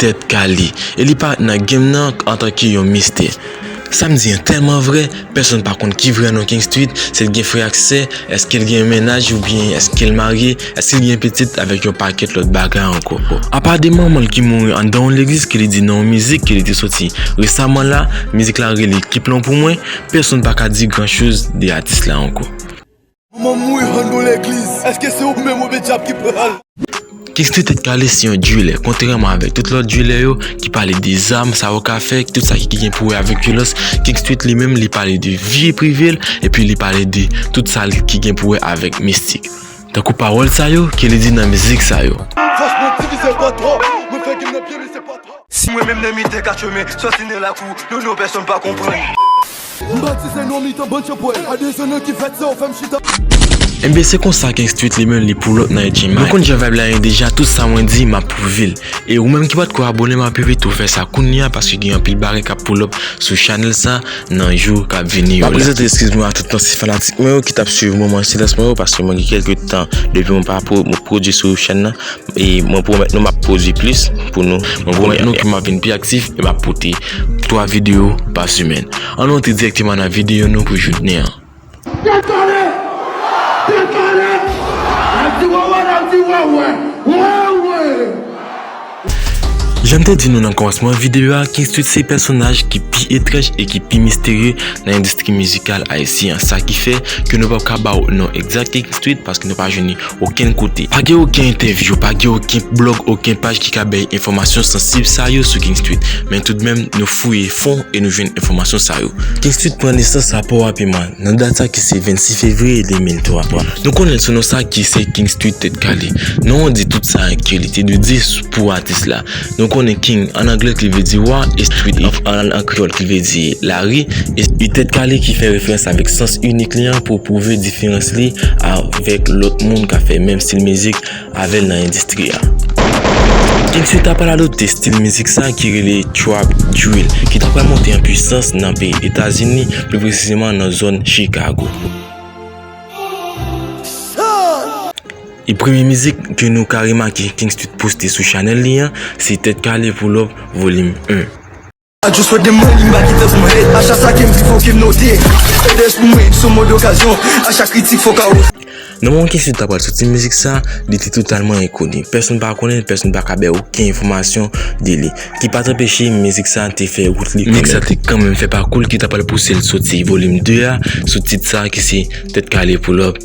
Tèt kale. E li pa nan game nan antanke yon mistè. Sam di an tèlman vrè, pèsonn pa konn ki vrè non King Street, si l gen frè ak sè, èske l gen yon mennaj oubyen èske l marye, èske l gen pitit avèk yon pakèt lòt bagay ankò. Apa de manman l ki mouri anndan yon legliz ke li di nan yon mizik ke li te soti resaman la, mizik la rele Ki Plan Pou Mwen, pèsonn pa ka di gran choz de atis la ankò. Manman m mouri an nou legliz. Eske se ou menm oubyen dyab ki pral. Kingsley tèt kale se yon duelè kontrèman avèk tout lòt duelè yo ki pale de zam sa yo ka fè tout sa ki gen pou wè avèk vyolans Kingstreet li menm li pale de vi prive l epi li pale de tout sa l ki gen pou wè avèk mistik tankou pawòl sa yo ke li di nan mizik sa yo. Fòs mwen divize pa 3, mwen fè gem nan pye li se pa 3. Si mwen menm nan mitan kat chemen, sòti nan lakou, non non pèsonn pa konprann. M batize nan mitan bann chanpwèl, a de zon nan ki vèt sa yo fè m chita. Enben se konsa King Street li menm li pou lòt nan Edgymine. Nou konn jan vibe la ye deja tout sa mwen di map prouve'l. E ou menm ki patko abone map envite w fè sa kounya paske gen anpil bagay kap pull up sou channel sa nan jou kap vini yo la. Map prezante eskiz mwen a tout ansyen fanatik mwen yo ki tap swiv moman silans mwen yo paske mwen gen kèlke tan depi mwen pa pwodui sou chèn nan E mwen pwomèt nou map pwodwi plis pou nou. Mwen pwomèt nou ke map vin pi aktif e map pote 3 videyo pa semèn. An nou antre dirèkteman nan videyo nou pou joutnen an. Tèt kale! Tèt kale! Nap di wèwè, nap di wèwè! Wèwè! Janm te di nou nan kòmansman videyo a, King Street se pèsonaj ki pi etranj e ki pi misterye nan endistri mizikal ayisyen an. Sa ki fè ke nou pap ka ba ou non egzak King Street paske nou pa jwenn li Okenn kote. Pa gen oken entèvyou, pa gen oken blog, oken paj ki ka bay enfòmasyon sansib sa yo sou King Street. Men toudmenm, nou fouye fon e nou jwenn enfòmasyon sa yo. King Street pran nesans a Pò Apiman, nan dat sa ki se 26 fevriye 2003. Nou konnen l sou non sa ki se King Street Tèt Kale. Non an di tout sa ke li te dwe di pou atis la. Nou konnen King an angle ki vle di Wa e Street of Ann an kreyòl ki vle di Lari e Street Tèt Kale ki fè referans avèk sans inik li an pou pwouve diferans li avèk lòt moun k ap fè menm stil mizik avè l nan endistri a. King Street ta pral adopte stil mizik sa ki rele Trap Drill ki ta pral monte an pwisans nan peyi Etazini, pi presizeman nan zòn Chikago. E premye mizik ke nou ka remake King Street poste sou chanèl li an, se Tèt Kale Pull Up Volim 1. A just wè gen mwen li m pa kite pou mwen A chak sa ke m di fò ke m note Edes pou mwen sou mòd okazyon A chak kritik fò ka oze. Nan moman King Street ta pral soti mizik sa, li te totalman enkoni. Pèsonn pa konnen l, pèsonn pa ka bay oken enfòmasyon de li. Ki pa t anpeche mizik sa te fè wout li kanmenm. Mizik sa te kanmenm fè pakou l ki ta pral pouse l soti Volim 2 a sou tit sa ki se Tèt Kale Pull Up.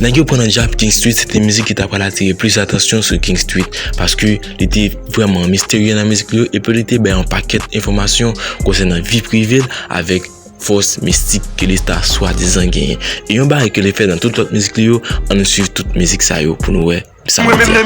Nèg yo pran nan djab King Street se te mizik ki ta pral atire plis atansyon sou King Street paske li te vrèman misterye nan mizik li yo epi li te bay yon pakèt enfòmasyon konsènan vi prive l avèk fòs mistik ke li ta swadizan genyen e yon bagay ke li fè nan tout lòt mizik li yo an nou swiv tout mizik sa yo pou nou wè sa li di.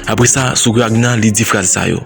Apresa sou Ragna li di fraz sa yo.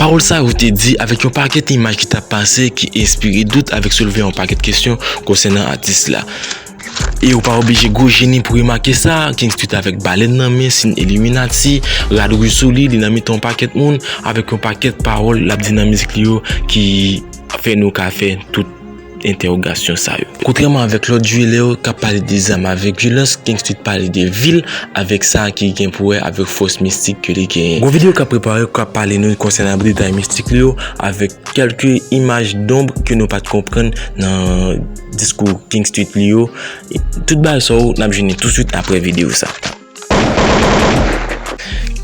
Pawòl sa yo te di avèk yon pakèt imaj ki tap pase ki enspire dout avèk soulve yon pakèt kesyon konsènan atis la. E ou pa oblije gwo jeni pou remake sa, King Street avèk balèn nan men, siyn illuminati, rad rouj sou li, li nan mitan yon pakèt moun, avèk yon pakèt pawòl lap di nan mizik li yo ki fè nou ka fè tout. entèwogasyon sa yo. Kontrèman avèk lòt jwilè yo k ap pale de zam avèk vyolans, King Street pale de vil avèk sa ki gen pou wè avèk fòs mistik ke li genyen. Gon videyo k ap prepare k ap pale nou konsènan detay mistik li yo avèk kèlke imaj donb ke nou pa t konprann nan diskou King Street li yo. Tout bagay sa yo n ap jwenn li touswit aprè videyo sa.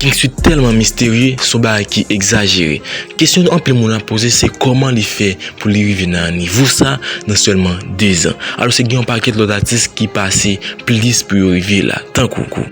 King Swit tèlman misterye, se yon bagay ki egzajere. Kesyon anpil moun ap poze se kòman li fè pou li rive nan nivo sa nan sèlman 2 zan. Alòske gen yon pakèt lòt atis ki pase plis pou yo rive la tankou.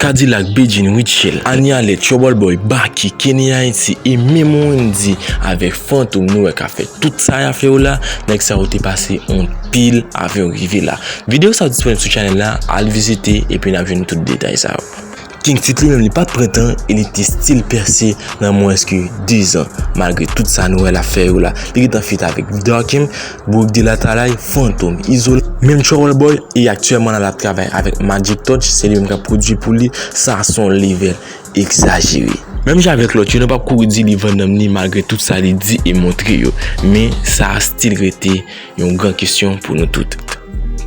Kadilak, Bedjine, Rutshelle, Annie Alerte, Troubleboy, Baky, Kenny Haiti e menm Wendy avèk Fantom nou wè kap fè tout sa yap fè yo la, nèg sa yo te pase anpil avan yo rive la. Video sa disponib sou channel la al vizite epi nap jwenn tout detay sa yo. King Tut li menm li pat pran tan e li te still pèse nan mwens ke 2 zan malgre tout sa nou wè lap fè yo la li gentan feat avèk Vdarkim, Bourick de la Talaï, Fantom, Izo, menm Trouble Boy e aktyèman la lap travay avèk Magic Touch se li menm kap pwodui pou li sa son level egzajere. Menm jan avèk lòt yo nou pap kouri di li vann nanm li malgre tout sa li di e montre yo men sa still rete. Yon gran kesyon pou nou tout.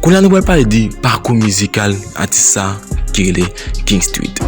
Kounye a nou pral pale de pakou mizikal atis sa ki rele King Street.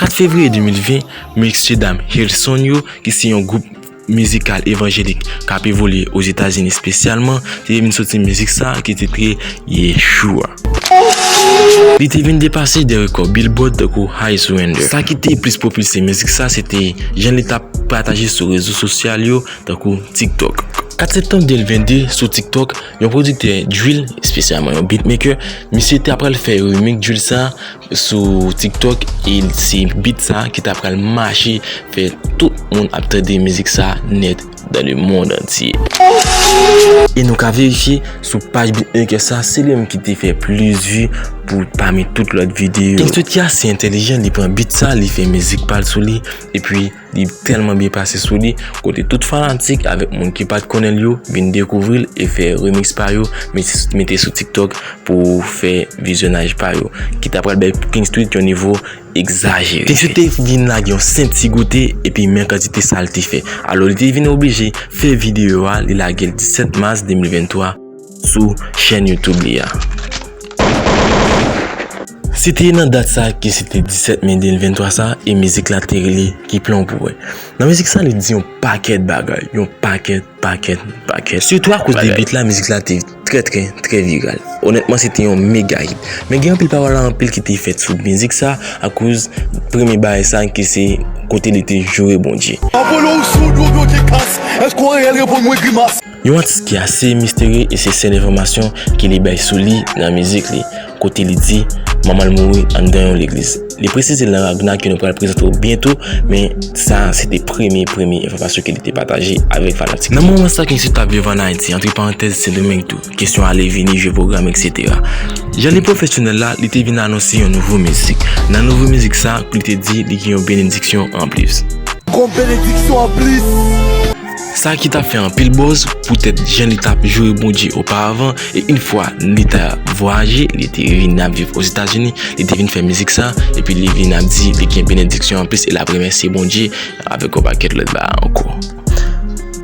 Kat fevriye 2020, mesye dam Hilson yo ki se yon gwoup. mizikal evanjelik k ap evolye Ozetazini espesyalman ki te vin soti mizik sa a ki titre Yeshua. Li te vin depase 2 rekò Billboard tankou High Surrender. Sa ki te plis pwopilse mizik sa se te jan li t ap pataje sou rezo sosyal yo tankou TikTok. 4 septanm 2022, sou TikTok, yon pwodiktè drill, espesyalman yon beatmaker, misye te apral fè remix drill sa a, Sou tiktok e se beat sa ki ta pral mache fè tout moun ap tande mizik sa nèt dan le mond antye. E nou ka verifye sou paj beatmaker sa se li menm ki te fè plis vi pou pami tout lòt videyo. Insocia se entelijan li pran beat sa li fè mizik pal sou li epi. Li tèlman byen pase sou li, kote tout fanatik avèk moun ki pat konnen l yo vin dekouvri l e fè remix pa yo mete sou TikTok pou fè vizyonaj pa yo, ki ta pral bay Pink Street yon nivo egzajere. Pink Street te vin lage yon senp ti goute epi men kantite sa l te fè. Alò li te vin oblije fè videyo a li lage l 17 mas 2023. sou chèn YouTube li a. Se te nan dat sa ki se te 17 me 2023 sa e mizik la te rele Ki plan w pou mwen. Nan mizik sa li di yon pakèt bagay, yon pakèt, pakèt, pakèt. Sitou akoz de beat la mizik la te trè trè trè viral. Onètman se te yon mega hit. Men gen anpil pawòl anpil ki te fèt sou mizik sa akoz premye bagay sa ki se kote li te joure Bondye. Yon atis ki ase misterye e se sèl enfòmasyon ki li bay sou li nan mizik li, kote li di manman l mouri anndan yon legliz. Li presize l nan Ragna ke nou pral prezante w byento men sa a se te premye premye enfòmasyon ke li te pataje avèk fanatik li. Nan moman sa ke misye t ap viv an Ayiti, antre parantèz Sendomeng tou, kesyon ale vini, jwe pwogram etc. Jan li pwofesyonèl la, li te vin anonse yon nouvo mizik. Nan nouvo mizik sa, li te di li gen yon benediksyon anplis. Yon benediksyon anplis! Sa ki tap fè anpil bòz poutèt jan li tap joure Bondye oparavan e yn fwa li ta vwayaje li te vin ap viv ozetazini li te vin fè mizik sa epi li vin ap di li gen benediksyon anplis e lap remèsye Bondye avèk yon pakèt lòt bagay ankò.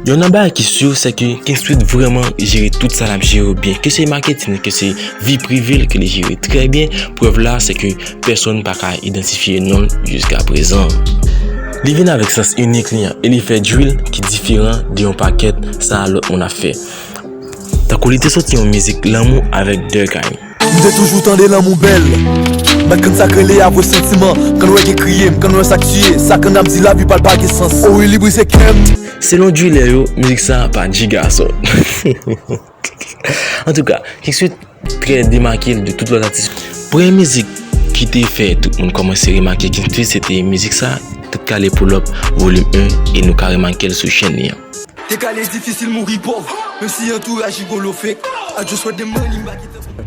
Yon nan bagay ki sur sèke King Street vrèman jere tout sa lap jere yo byen ke se maketin li ke se vi privel ke li jere trè byen prèv la sèke pèsonn pa ka idantifye non l jiskaprezan. Li vin avèk sans inik li an e li fè drill ki diferan de yon pakèt sa lòt moun ap fè. Tankou li te soti yon mizik lanmou avèk Durkheim. M te toujou tande lanmou bèl Nan kann sak rele avwe santiman Kann wè gen kriye m kann wè sak tiye Sa kann ap di lavi pa l pa gen sans O wi li brise kè m. Selon driller yo mizik sa pa jiga sot. An tou ka, King Sweet trè demake l de tout lòt atis. Premye mizik ki te fè tout moun kòmanse remake King Sweet se te mizik sa, Tèt Kale Pull Up Volume 1 e nou ka remake l sou chèn li an. Tèt kale difisil mouri pòv menm si antouraj rigolo fake I just want the money m pa gen tan pou.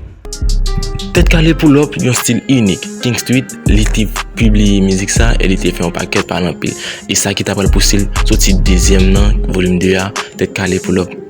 Tèt Kale Pull Up yon stil inik King Sweet li te pibliye mizik sa e li te fè yon pakèt pale anpil e sa ki ta pral pouse l soti dezyèm nan, Volume 2 a, Tèt Kale Pull Up.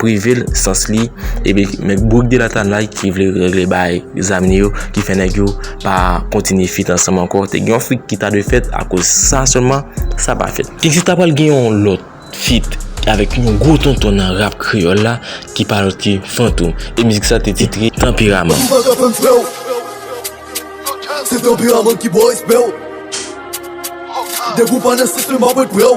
prive l sans li epi men bourk de latanay ki vle regle bay zam li yo ki fè nèg yo pa kontinye fit ansanm ankò te gen yon fit ki ta dwe fèt akoz sa sèlman sa pa fèt e si ta pral gen yon lòt fit avèk yon gwo tonton nan rap kreyòl la ki pa lòt ke Fantom e mizik sa te titre Tanperaman. Ou pa ka fè m fè w Se tanperaman ki ba w respè w Depi w pa nan sistèm m ap ret prè w.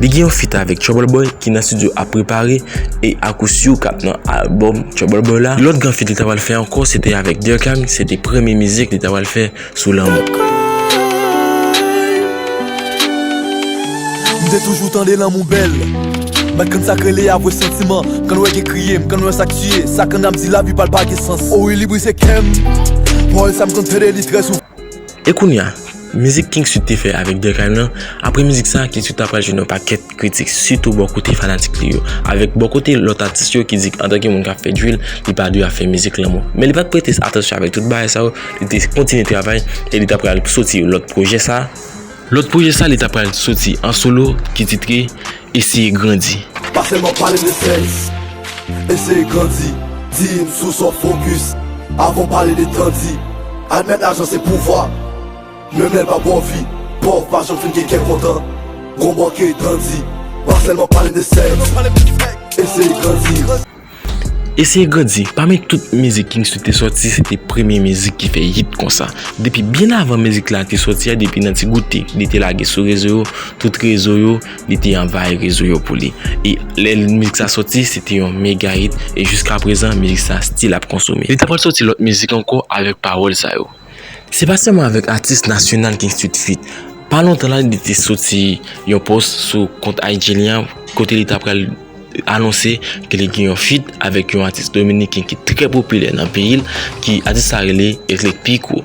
Li gen yon feat avèk Trouble Boy ki nan studio ap prepare e ak ou siw kap nan album Trouble Boy la. Lòt gran feat li ta pral fè ankò se te avèk Durkheim, se te premye mizik li ta pral fè sou lanmou. M te toujou tande lanmou bèl Bat kann sak rele avwe santiman Kann wè gen kriye m kann wè sak tiye Sa kann ap di lavi pa l pa gen sans O wi li brise kè m Pawòl sa m konn tande li trè souvan. E kounya, mizik King Sweet te fè avèk Durkheim lan, apre mizik sa King Sweet ta pral jwenn yon pakèt kritik sitou bò kote fanatik li yo, avèk bò kote lòt atis yo ki di k antanke moun k ap fè drill li pa dwe ap fè mizik lanmou. Men li pa t prete atansyon avèk tout bagay sa yo, li te kontinye travay e li ta pral soti lòt pwojè sa, lòt pwojè sa li ta pral soti an solo ki titre. Eseye grandi. Pa sèlman pale de sèks. Eseye grandi. Di m sou sa w fokis avan w pale de tan. Di, Admèt lajan se pouvwa, menm lè l pa ba w vi. Pòv pa janm fin gen kè kontan. Gon bò ke dan di. Pa sèlman pale de sèks. Eseye grandi. Eseye grandi, pami tout mizik King Sweet te sòti se te premye mizik ki fè hit konsa. Depi byen avan mizik la te sòti a depi nan ti goute li te lage sou rezo yo, tout rezo yo li te anvayi rezo yo pou li. E lè mizik sa sòti se te yon mega hit e jiskaprezan mizik sa stil ap konsome. Li ta pral sòti lòt mizik ankò avèk pawòl sa yo. Se pa sèlman avèk atis nasyonal King Street Feat. Pa lontan la li te soti yon post sou kont IG li an kote li ta pral anonse ke li gen yon feat avèk yon atis dominiken ki trè popilè nan peyi l ki atis sa rele Erick Pico.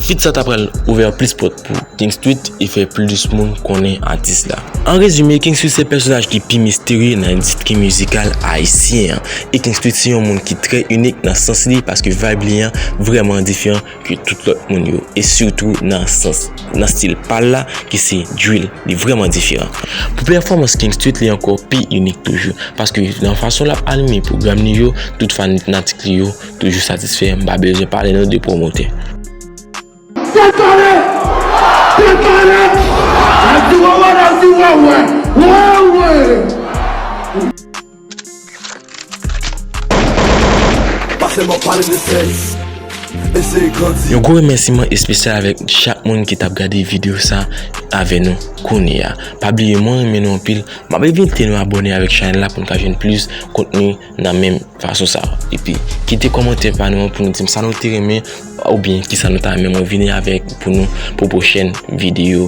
Feat sa ta pral ouvè plis pòt pou King Street e fè plis moun konnen atis la. An rezime, King Street se pèsonaj ki pi misterye nan endistri mizikal ayisyen an. E King Street se yon moun ki trè inik nan sans li paske vibe li an vrèman diferan. ke tout lòt moun yo e sitou nan sans nan stil pal la ki se drill li vrèman diferan. Pou pèfòmans King Street li ankò pi inik toujou paske nan fason lap anime pwogram li yo tout fanitnatik li yo toujou satisfè m pa bezwen pale nou de pwomotè. Tèt ale! Tèt ale! Al di wawè al di wawè! Wawwee! Yon gwo remèsiman espesyal avèk chak moun ki tap gade video sa avè nou kounye a. Pa bliye mwen renmen nou anpil, map envite nou abòne avèk chanèl la poun ka jwenn plis kontni nan menm fason sa. Epi kite kòmantè pa nou an pou nou dim sa nou te renmen oubyen kisa nou ta renmen mwen vini avèk pou nou pou pwochèn video.